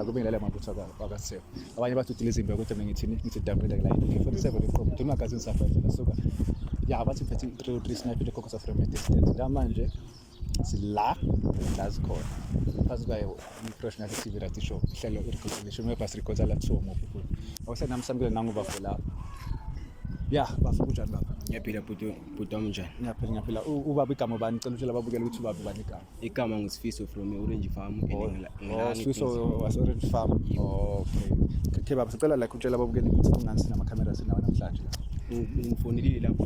la kubingelela amabutho wakaSefu abanye bathi udile izimbe kodwa mina ngithini ngithi damile la ngi-47 iqobo ngithini magazini safayela nasuka ya bathi phethe i-three three snipe le cocosa from a distance la manje sila la zikhona phansi kwayo i-professional tv rati show ihlelo i-reconciliation webhasi rikhoza la kuthiwa mobukulu awusenami samukele nangu bafo lapho ya bafo kunjani baba ngiyaphila bhuti bhuti wami njani ngiyaphila ngiyaphila U- ubaba igama ubani cela utshela ababukela ukuthi ubaba ubani igama igama ngusifiso from e-orange farm and ngila- Oh, ngilana Swiss ePrince. o- wase-orange farm Oh, okay okay baba sicela like utshela ababukela ukuthi kungani sinamakhamera sinawo namhlanje la U- ungifonelile lapho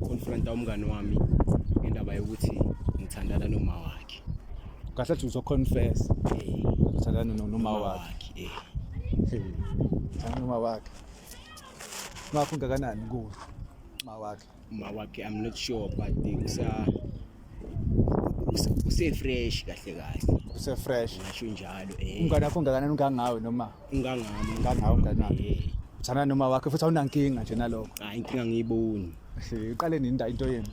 konfronta umngane wami ngendaba yokuthi ngithandana noma wakhe kahle athi uzoconfess Eh, uthandana no- noma wakhe eh. uthandana noma wakhe Ngakho ngakanani kuwe mawakhe? Mawakhe I'm not sure but usa use fresh kahle kahle. Use fresh. Ngisho njalo eh. Ungane wakho ngakanani ungangawe noma? Ungangami, ungangawe unganami. Uthana noma wakhe futhi awunankinga nje nalokho. Hayi inkinga ngiyiboni. Uqale nini into yenu?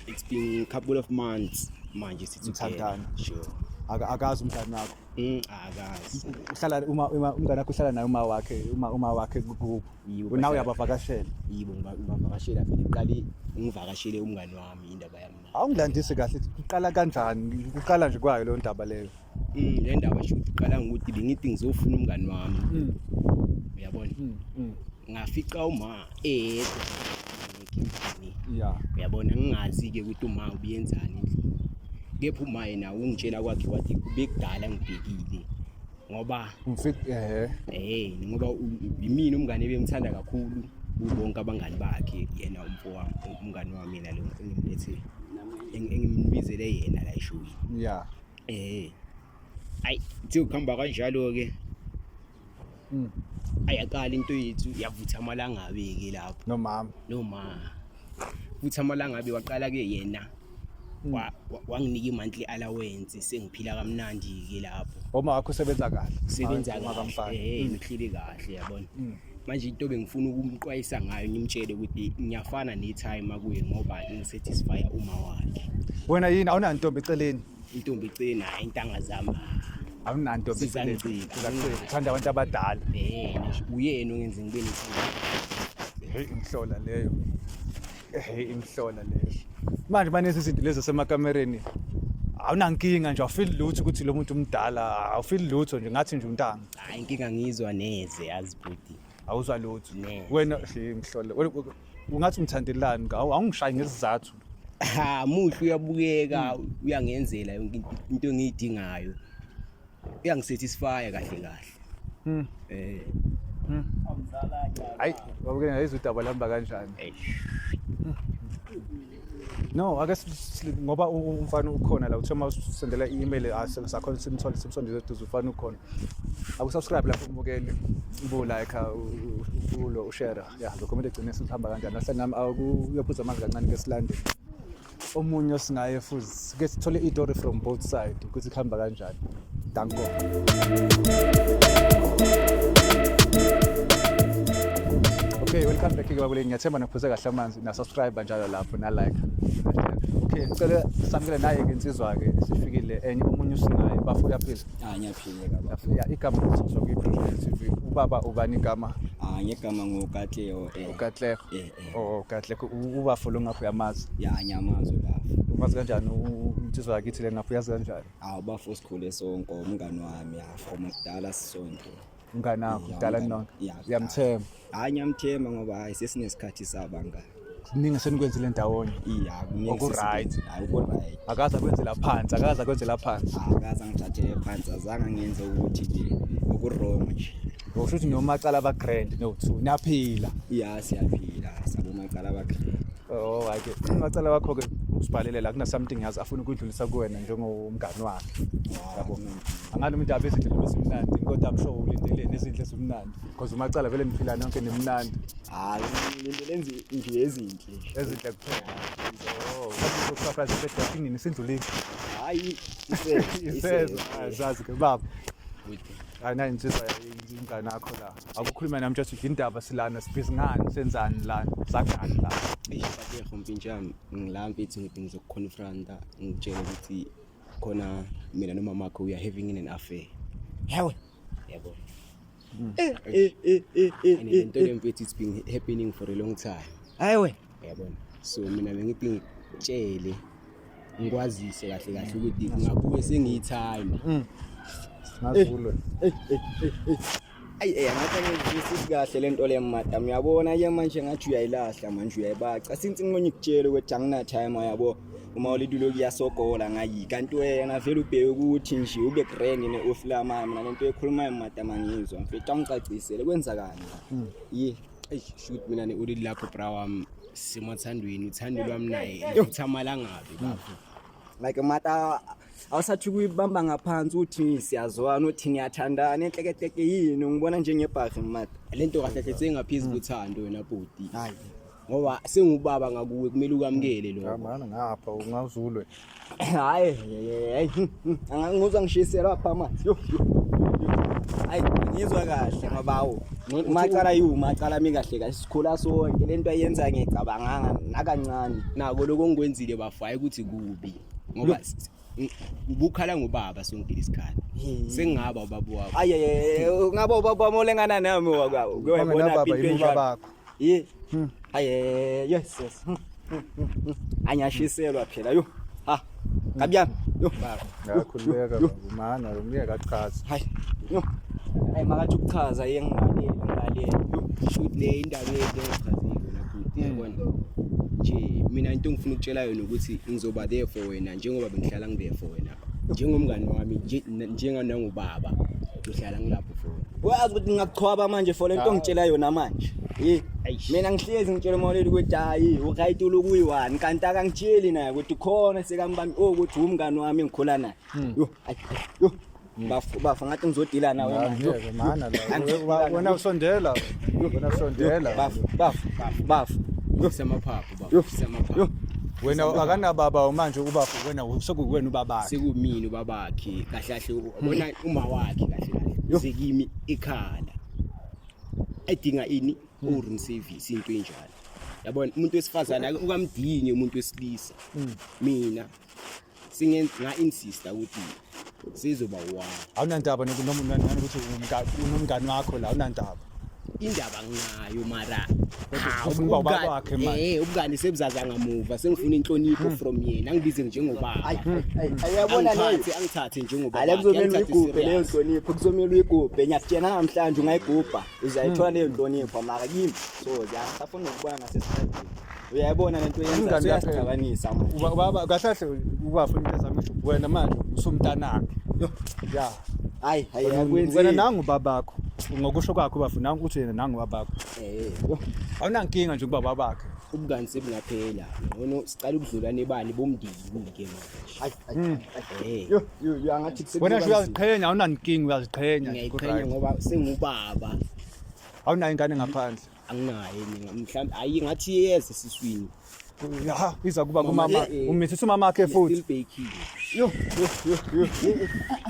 It's been a couple of months manje sithandana. Sure. Akazi umntana wakho. Mm, akazi uhlala uma uma umngane wakho uhlala naye uma wakhe uma uma wakhe kubo Yibo, nawe bahlala- uyabavakashela yibo ngiba- ngibavakashela vele qale ngivakashele umngani wami indaba yami naye. awungilandisi kahle kuqala kanjani kuqala nje kwayo leyo ndaba leyo Mm, le ndaba shuthi iqala ngokuthi bengithi ngizofuna umngani wami uyabona ngafica uma eyedwa endlini yeah uyabona ngingazi ke ukuthi uma ubiyenzani endlini kepha uma yena ungitshela kwakhe wathi bekudala ngibhekile ngoba ngifik eh eh ngoba yimina umngane bengithanda kakhulu bonke abangani bakhe yena umfo wami umngani wami yena lo engimlethe engimbizele yena la eshowini yeah eh ayi kuthi ukuhamba kanjalo ke Mm. ayaqala into yethu yavutha amalangabi-ke lapho nomama noma futhi amalangabi waqala-ke yena Mm. wa- wa- wanginika i-monthly allowance sengiphila kamnandi-ke lapho uma wakho usebenza kahle sebenza Uma kahle kamfana. eh ngihleli kahle yabona Mm. manje into bengifuna ukumqwayisa ngayo ngimtshele ukuthi ngiyafana ne-time akuye ngoba ngisatisfya uma wakhe wena yini awunantombi eceleni intombi icina intanga zami awunanto sizangicikauthanda abantu abadala uyena ongenza ngibe heyi imhlola leyo heyi imhlola leyo manje banezi zinto lezi zasemakamereni awunankinga nje awufili lutho ukuthi lo muntu umdala awufili lutho nje ngathi nje untanga hayi inkinga ngizwa neze azibhudi awuzwa lutho Neze. wena hey, mhlola wena- u- ungathi ngithandelani ngawo awungishayi ngesizathu ha muhle uyabukeka uyangenzela yonke into- into engiyidingayo uyangisatisfya kahle kahle Mm. eh hayi babukene ngayizwa udaba lihamba kanjani eish No, ake ngoba umfana ukhona la uthoma usendela i-email asakhona ah, simthole simsondele eduze umfana ukhona. Akusubscribe lapho umbukeli ubu like ah, ulo ushare. Yeah, lokho kumele egcine sihamba kanjani. Nahle nami akuyophuza ah, amanzi kancane ke silande. Omunye osingaye futhi sike sithole itori from both side ukuthi kuhamba kanjani danko okay welcome back ke bakuleli ngiyathemba niphuze kahle amanzi na subscribe njalo lapho na like okay ngicela samukele naye ke insizwa ke sifikile enye omunye usinaye bafo uyaphila ah ngiyaphila baba ya igama ukuthi sokuyi project tv ubaba ubani igama ah ngegama ngokatleho eh ukatleho eh Oh kahle ubafo lo ngapha uyamazi. Ya ngiyamazi ubafo. Umazi kanjani insizwa yakithi le ngapha uyazi kanjani? Hawu bafo sikhule sonke umngani wami ya from kudala sisonke. Umngani wakho kudala nonke. Uyamthemba. Hayi ngiyamthemba ngoba hayi sesinesikhathi sabangani. kuningi senikwenzile ndawonye iya kuningi okuright hayi okuright akaza kwenzela phansi akaza kwenzela phansi akaza ngithathele phansi azange ngenze ukuthi nje okurong nje Usho ukuthi nomacala ba grand no two naphila. Yeah siyaphila sabo macala ba grand. Oh wake umacala wakho ke usibhalele la kuna something else afuna ukudlulisa kuwena njengomngani wakhe. Yabo mina. Angalo umuntu abe izinto esimnandi kodwa I'm sure ulindeleni izinto esimnandi because umacala vele niphila nonke nimnandi. Hayi ngilindele nje nje ezinhle. Ezinhle kuphela. Oh, ukusafra sibethini sindlulile. Hayi isezwe. Isezwe azazi ke baba. Ana insizwa ingane yakho la. Akukhuluma nami just ukuthi indaba silana sibhizi ngani senzani lana sakhani la. Eish bateho mpintshami ngila mfethu ngithi ngizokuconfronta ngitshele ukuthi khona mina nomama wakho we are having in an affair. Hewe. Yebo. Hmm. Eh eh eh eh. eh, eh, eh. Into lemfethu it's been happening for a long time. Hayi wena. yabona so mina bengithi ngitshele ngikwazise kahle kahle ukuthi ngabuke sengiyithanda mm. ngazulwe eh, eh, eh, ayi eh ngathi ngizwisisi kahle lento le madam uyabona ke manje ngathi uyayilahla manje uyayibaca since ngimonye kutshela ukuthi angina time yabo uma ulitulo kuyasogola ngayi kanti wena vele ubheke ukuthi nje ube grand ne oflamama mina lento ekhulumayo madam angizwa mfethu angicacisele kwenzakani hmm. yi eish shoot mina ne ulili lakho bra wami simathandweni uthando lwami naye futhi amalangabi bafo like mata awusathi kuyibamba ngaphansi uthi siyazwana uthi niyathandana enhlekehleke yini ngibona njengebhahi mata lento kahle kahle sengaphezu kuthando wena bhuti hayi ngoba sengubaba ngakuwe kumele ukamukele lokho Ngabana ngapha ungazulwe. Hayi, hayi. Angangizwa ngishiselwa apha amanzi. Yo. Hayi, ngizwa kahle ngobawo. Umacala yiwu macala mi kahle kahle sikhula sonke lento ayenza ngicabanganga nakancane. Nako lokho ngikwenzile bafo hayi ukuthi kubi. Ngoba ubukhala ngobaba sonke isikhathi sengingaba ubaba wakho ayeye ngaba ubaba wami olengana nami wakho uyabona impilo yakho Ye. Hmm. Aye, yes yes. Hmm, hmm, hmm, hmm. Anyashiselwa phela yo. Ha. Kabyami. Yo. Baba, ngakhululeka baba. Umana lo myeka achaze. Hayi. Yo. Hayi makathi ukuchaza yengaleli ngaleli. Shoot le indaba yethu echazile nakuthi yabona. Nje mina into engifuna ukutshela yona ukuthi ngizoba there for wena njengoba bengihlala ngibe for wena. njengomngani wami nje- na- njenga nangubaba ngihlala ngilapho for wena wazi ukuthi ngingakuchwaba manje for lento ngitshela yona manje Hey, Eish. mina ngihlezi ngitshela umawoleli ukuthi hayi uright uloku uyi-one kanti akangitsheli naye ukuthi khona sekambami o ukuthi wumngani wami engikhula naye Yo, ayi, yo, bafo bafo ngathi ngizodila nawe manje. Yo, Ngeke mana la. Angizodila Wena- nawe. Wena usondela. Wena usondela. bafo bafo bafo Yo, samaphaphu wena akanababa manje ubafo wena sekuwena ubabakhe sekumini ubabakhe kahle kahle ubona uma wakhe kahle kahle sekimi ikhala edinga ini hmm. urun service into enjalo yabona umuntu wesifazane ukamdingi umuntu wesilisa hmm. mina singenga insista ukuthi sizoba one awunandaba nokuthi unomngani wakho la awunandaba indaba nginayo mara eh, ubukani sebuzaza ngamuva sengifuna inhlonipho hmm. from yena angibize njengobaba hmm. ayabona lethi angithathe njengobaba ale kuzomela uyigubhe leyo nhlonipho kuzomela uyigubhe ngiyakutshena namhlanje ungayigubha uzayithola leyo nhlonipho mara kimi so ziyasafuna ukubona ngasesikhathini uyayibona lento yenza uyasicabanisa ubaba kahle kahle ubafuna into ezami usho wena manje usumntanakhe ya hayi hayi akwenzi wena nangu babakho ngokusho kwakho bafu nangu uthi yena nangu babakho eh awunankinga nje kubaba bakhe ubungani sebungaphela ngono sicela ukudlula nebani bomndini ke wena nje uyaziqhenya awunankinga uyaziqhenya ngiyayiqhenya ngoba sengubaba awunayo ingane ngaphandle anginayo mina mhlawumbe ayi ngathi iyeza esiswini ya iza kuba kumama eh, eh, umithisa umama wakhe futhi yo yo yo yo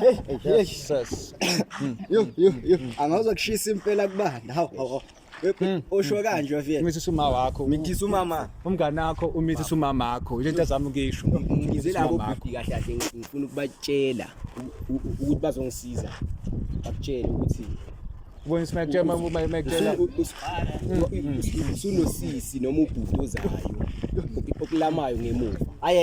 hey hey yes hmm. yo yo yo angawuza kushisa impela kubanda hawu hawu Hmm. usho kanje wafika umithi suma wakho umithi umama umngane wakho umithi suma makho into ezama ukisho ngize labo bhuti kahle kahle ngifuna ukubatshela ukuthi bazongisiza bakutshela ukuthi ubona simakutshela uma uma imakutshela usunosisi noma ubhuti ozayo okulamayo ngemuva ayi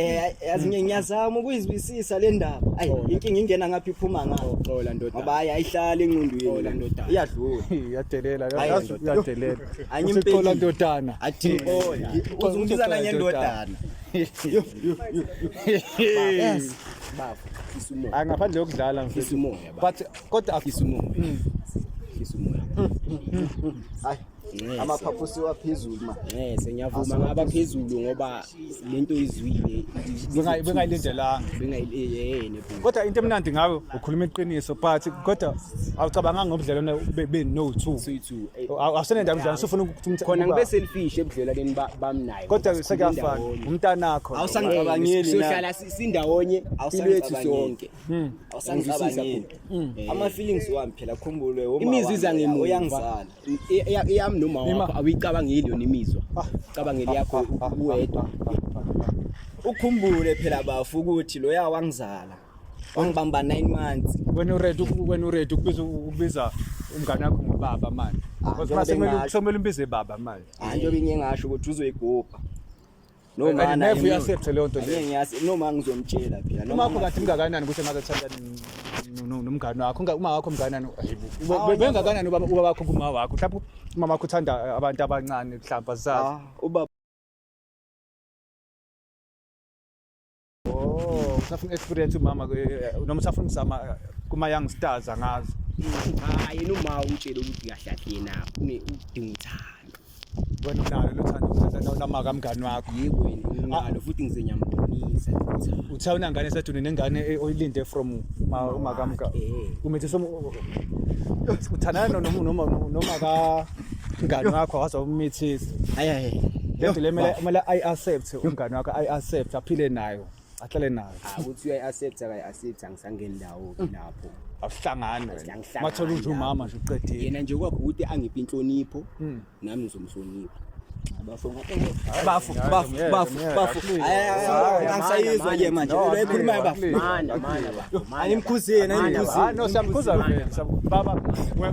yazi ngiyazama ukuyizwisa Sisa le ndaba. Ayi Xola. inkinga ingena ngapha iphuma ngayo. Xola ndoda. Ngoba hayi ayihlali ingqondweni. Xola ndoda. Iyadlula. Iyadelela Ayi, yazi ndoda. uyadelela. Uthi Angimpeli. xola ndodana. Athi xola. Uzungizana Xola, ngendodana. Yo yo yo. Yes. Baba. Fisa umoya. Hayi ngaphandle yokudlala mfethu. Fisa umoya baba. But kodwa Fisa umoya. Fisa umoya. Hayi. amaphaphu siwaphezulu ma nese ngiyavuma ngaba phezulu ngoba lento izwile bengayilindelanga bengayileyene eh, kodwa into emnandi ngawe ukhuluma iqiniso but kodwa awucabanganga ngobudlelwane be no 2 eh. awusenenda mdlalo sufuna ukuthi khona ngibe selfish ebudlelwaneni bami naye kodwa sekuyafana umntanakho awusangicabangeli sohlala sindawonye impilo yethu sonke hmm. awusangicabangeli hmm. ama feelings wami phela khumbule uma imizwa zangemuva uyangizala eyami noma wakho awuyicabangeli yona imizwa ah. cabangeli yakho ah, ah, uwedwa ukhumbule phela bafu ukuthi loya wangizala wangibamba 9 months wena uready wena uready ukubiza ukubiza umngane wakho ngobaba manje ngoba kumele umbize baba manje hayi njengoba ngingasho ukuthi uzoyigubha No ma na. Never accept leyo nto leyo. Ngiyasi no ma ngizomtshela phela. Noma akho kathi mngakanani ukuthi maze thandana nomngane wakho uma wakho mnganani bengakanani ubaba wakho kuma wakho mhlawumbe umama wakho uthanda abantu abancane mhlawumbe asazi ah, ubaba Oh, usafuna experience umama noma usafuna ukuzama eh, kuma young stars angazi. Cha yena uma umtshele ukuthi kahle kahle yena une udinga uthando. Wena unalo lothando uthanda unamaka mngani wakho. Yebo yena unalo futhi ngizenyambonisa. Uthe unangane saduni nengane eh, oyilinde from uma kamka. Umethe somu uthandana noma noma noma ka Ngani wakho waze umithisa. Ayaye. Lento le mele mele i accept umngani wakho i accept aphile nayo. Ahlale nayo. Akuthi uyayi accept akayi accept angisangeni ndawo lapho. Awuhlangani wena. Mathola unje umama nje uqedile. Yena nje kwakho ukuthi angiphi inhlonipho nami ngizomhlonipha. Bafu, bafu, bafu, bafu. Angisayizwa ke manje. Lo ekhuluma bafu. Manje, manje. Animkhuze, animkhuze. Ah, no, siyamkhuza vele. Baba,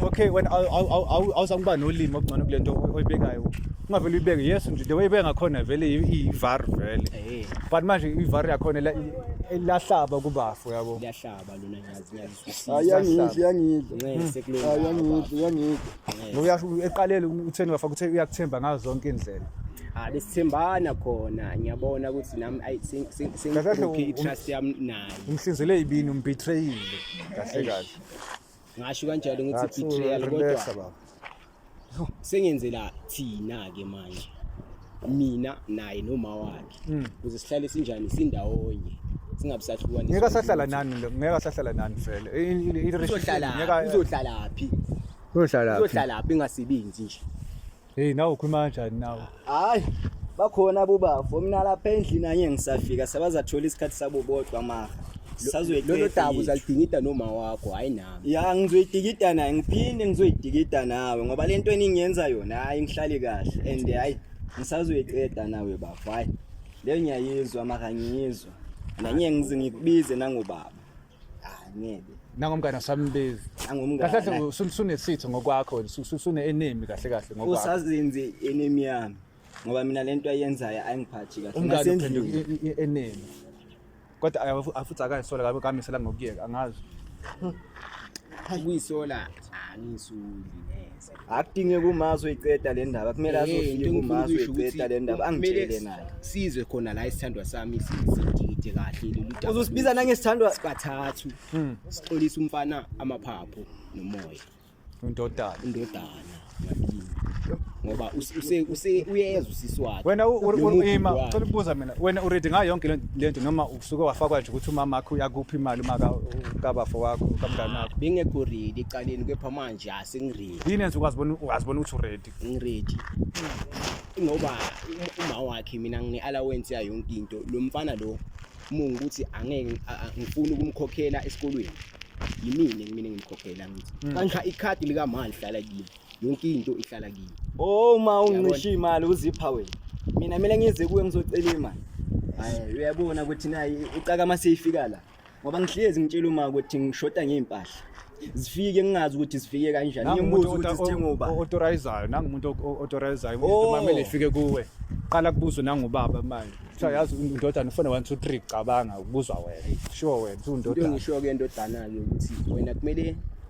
okay, when awuzakuba nolimi okungcono kulento oyibekayo. Ungavele uyibeke. Yes, nje the way ibeka ngakhona vele ivar vele. Eh. But manje ivar yakhona ilahlaba kubafu yabo. Iyahlaba lona ngiyazi. ayangidla yangidla ayangidla yangidla uyasho eqalele utheni wafaka uthe uyakuthemba ngazo zonke indlela ah besithembana khona ngiyabona ukuthi nami ayi sengikhokhe i-trust yami naye umhlinzele ibini umbetrayile kahle kahle ngasho kanjalo ngithi betrayal kodwa sengenzela thina ke manje mina naye noma wakhe hmm. kuze sihlale sinjani sindawonye singabusahlukanisa ngeke sahlala nani ngeke sahlala nani vele izohlala izohlala phi uzohlala phi uzohlala phi ngasebenzi nje hey nawe ukhuluma kanjani nawe Hayi, bakhona bobafo mina lapha endlini anye ngisafika sabazathola isikhathi sabo bodwa maha. Sazoyiqeda. Lolo dabu uzalidingida noma wakho, hayi nami. Ya ngizoyidikida naye ngiphinde ngizoyidikida nawe ngoba lento eningenza yona hayi ngihlali kahle and hayi ngisazoyiqeda nawe bafo. Hayi. Leyo ngiyayizwa maka ngiyizwa. Nanye ngizingikubize nangobaba. Ah, ngeke nangomngane asambizi kahle kahle nangomngane usu- usunesitho ngokwakho wena usu- usu- usune-enemy kahle kahle ngokwakho usazenze enemy yami ngoba mina lento ayenzayo ayingiphathi kahle umngane Ngasendlini. uphenduka i- i- i- enemy kodwa ay- afu- afuthi akayisola kabe kamisela ngokuyeka angazi ukuyisola angiyisuli neze akudinge kumazi uyiqeda le ndaba kumele Eh, azofike into engifuna kumazi ukuyisho ukuthi uyiqeda le ndaba kumele angitshele naye sizwe khona la isithandwa sami si- sidikide kahle lolu daba. uzosibiza nangesithandwa sikathathu Hmm. sixolisa umfana amaphaphu nomoya Undodana. indodana yakini. ngoba use- use- use- uyezwa usisi wakhe Wena u- u- Nomukhulu u- ima wakhe. cela ukubuza mina wena uready ngayo yonke le- le nto noma usuke wafakwa nje ukuthi umama wakho uyakuphi imali uma ka- kabafo wakho kamngane wakho bengekho ready ecaleni kepha manje ja sengiredi yini yenza ukazibona ukazibona ukuthi uredi ngiredi ngoba uma wakhe mina ngine-allowance yayo yonke into lo mfana lo mungu ukuthi angeke ngifuna ukumkhokhela esikolweni yimini kumina ngimkhokhela ngithi hmm. kanxa ikhadi likamali hlala kimi yonke into ihlala kimi uma oh, ungishiya imali uzipha wena mina kumele ngize kuwe ngizocela imali uyabona ukuthi naye ucaka uma seyifika la ngoba ngihlezi ngitshela uma ukuthi ngishoda ngey'mpahla zifike ngingazi ukuthi zifike kanjani ngimbuza ukuthi zithengwa uba authorizayo nangumuntu authorizayo umuntu oh. mamele ifike kuwe qala kubuzwe nangubaba manje kuthiwa yazi undodana ufone one two three cabanga kubuzwa wena sure wena undodana into engisho-ke endodana-ke ukuthi wena kumele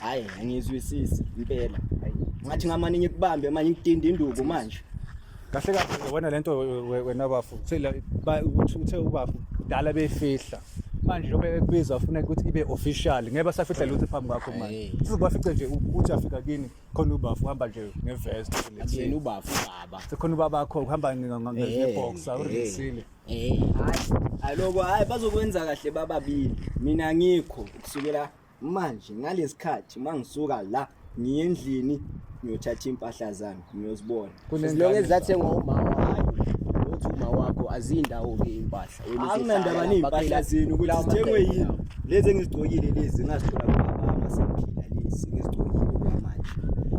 hayi angizwisisi impela ngathi ngamane ngikubambe manje ngidinda induku manje kahle kahle wena lento wena bafu uthe ubafu dala befihla manje njengoba ekubiza ufuna ukuthi ibe official ngeke basafihla lutho phambi kwakho manje sizobafice nje ukuthi afika kini khona ubafu uhamba nje ngevest yena ubafu baba sekhona ubaba wakho uhamba ngeboxer eh, urisile eh, eh. hayi aloko hayi bazokwenza kahle bababili mina ngikho kusukela manje ngalesikhathi mangisuka la ngiye endlini ngiyothatha impahla zami ngiyozibona kunezilonge ezathengwa umama hayi uthi uma wakho azindawo ke impahla akunandaba nezimpahla zenu ukuthi zithengwe yini lezi engizigcokile lezi ngazithola kubaba masengiphila lezi ngizigcokile kwamanje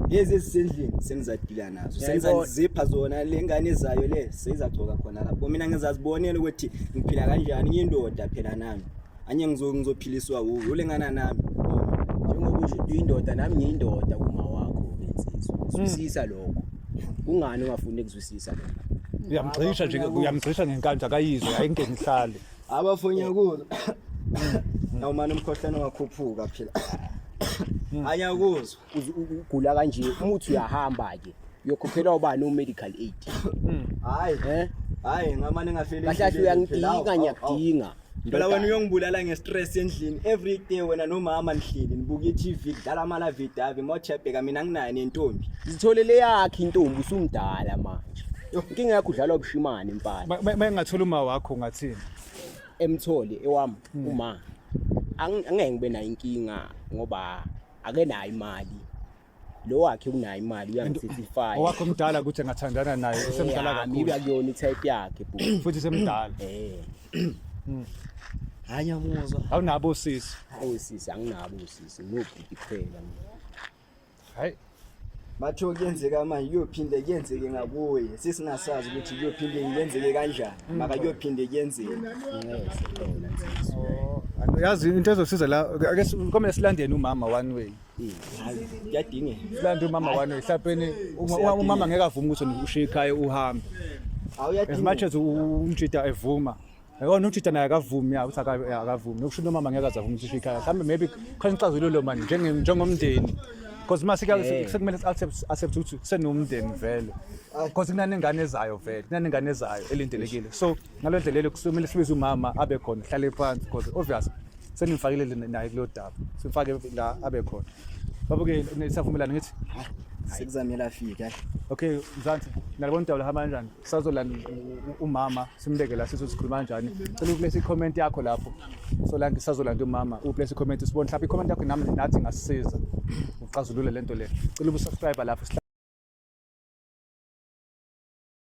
lezi ezisendlini sengizadila nazo sengizazipha zona le ngane ezayo le seyizagcoka khona lapho mina ngizazibonela ukuthi ngiphila kanjani ngiyindoda phela nami anye ngizo ngizophiliswa wuwe ulengana nami njengoba usho uyindoda nami ngiyindoda kuma wakho insizwa hmm. zwisisa lokho kungani ungafuni ukuzwisisa lokho uyamgxisha nje uyamgxisha ngenkandla akayizwe ayinke ngihlale abafonya kuzo hmm. awumane umkhohlane wakhuphuka phela hmm. anya kuzwa ugula kanje umuthi uyahamba ke uyokhokhelwa ubani u-medical aid hayi eh? hayi ngamane ngafeli kahle kahle uyangidinga ngiyakudinga Phela wena uyongibulala ngestress endlini. Every day wena nomama nihleli nibuka iTV kudlala amala vidavi mochebheka mina nginayo nentombi. Zitholele yakhe intombi usumdala manje. Inkinga yakho udlala ubushimane mfana. Ba- ba- Bayengathola uma wakho ngathini. Emtholi ewami uma Ang- angeke ngibe nayo inkinga ngoba akenayo imali. lo wakhe unayo imali uyangisisifaya owakho mdala ukuthi engathandana naye usemdala kakhulu mibi akuyona itype yakhe bhuti futhi semdala eh hmm. hanya muzwa awunabo sisi awusisi anginabo usisi ngobhuti kuphela hayi bathe kuyenzeka manje kuyophinde kuyenzeke ngakuye sisingasazi ukuthi kuyophinde kuyenzeke kanjani mm. maka kuyophinde kuyenzeke oh, yazi into ezosiza la ake sikomele silandeni umama one way kuyadingeka silanda umama wani ehlapeni umama ngeke avume ukuthi ushiye ikhaya uhambe as much as umjida evuma yona utshitha naye akavumi ya ukuthi akavumi nokusho into umama ngeke azavuma ukuthi ushiye ikhaya mhlawumbe maybe khona ixazululo mani njengomndeni because uma sekumele accept ukuthi kusenomndeni vele because kunanengane ezayo vele kunanengane ezayo elindelekile so ngalo ndlela leyo kusomele sibize umama abe khona hlale phansi because obvious sengimfakile le- naye kulo daba simfake la abe khona babuke nisavumelana ngithi sekuzamele afike ayi okay mzansi nalibona udaba lahamba kanjani sazolanda u- u- umama simbeke la sithi sikhuluma kanjani cela uplesa i-comment yakho lapho solanke sazolanda umama uplesa i-comment sibone mhlawumbe i-comment yakho nami nathi ngasisiza uxazulule le nto le cela ubusubscribe lapho